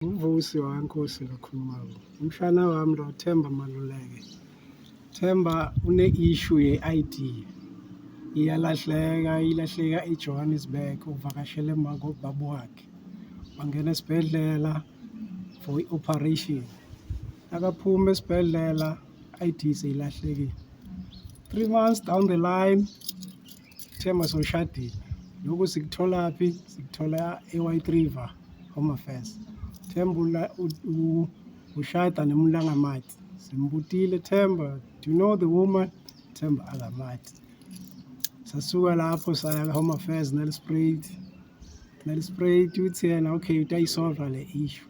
Umvusi waNkosi lokhulumayo. Umshana wami lo Themba Maluleke. Themba une issue ye ID. Iyalahleka, ilahleka eJohannesburg uvakashele mako babu wakhe. Wangena esibhedlela for operation. Akaphuma esibhedlela ID seyilahlekile. 3 months down the line Thema soshadile lokhu sikutholaphi sikuthola e-white river home affairs themba ushada nemulangamathi simbutile themba do you know the woman themba akamathi sasuka lapho saya ka-home affairs nalisprayed nalisprayed uthi yena okay utayisolva le issue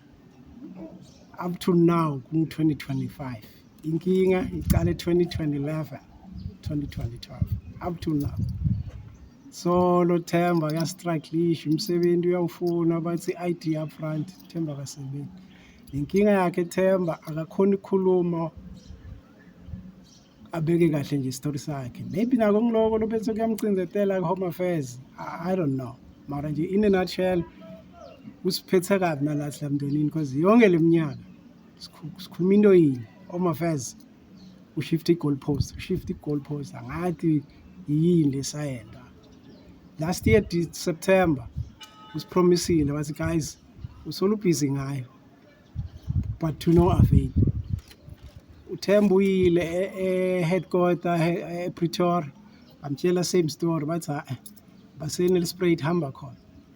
up to now ku-2025 Inkinga iqale 2011 2012 up to now solo Themba ka strike leash umsebenzi uyawufuna bathi ID up front Themba kasebenzi inkinga yakhe Themba akakhona ukukhuluma abeke kahle nje story sakhe maybe nako ngiloko lobese kuyamcinzetela ku home affairs I, i don't know mara nje in a nutshell usiphethe kabi nalathi lamndenini because yonke leminyaka sikhuluma into yini home affairs ushift i-goal post ushift i-goal post angathi yini lesayenda last year september usipromisile wathi guys usolubhizi ngayo but to no avail uthemba uyile e-headquarter e, e, epretoria bamtshela same story bathi ha-e baseni lisprayed hamba khona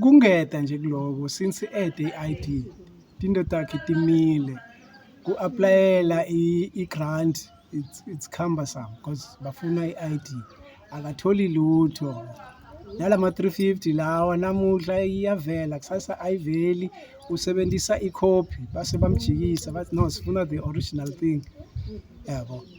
Kungeta nje kuloko since ede i-ID tinto takhe timile ku-aplayela i-grant it's, it's cumbersome because bafuna i-ID akatholi lutho nala ma-350 lawa namuhla iyavela kusasa ayiveli usebenzisa ikhophi base bamjikisa bathi no sifuna the original thing yabo yeah,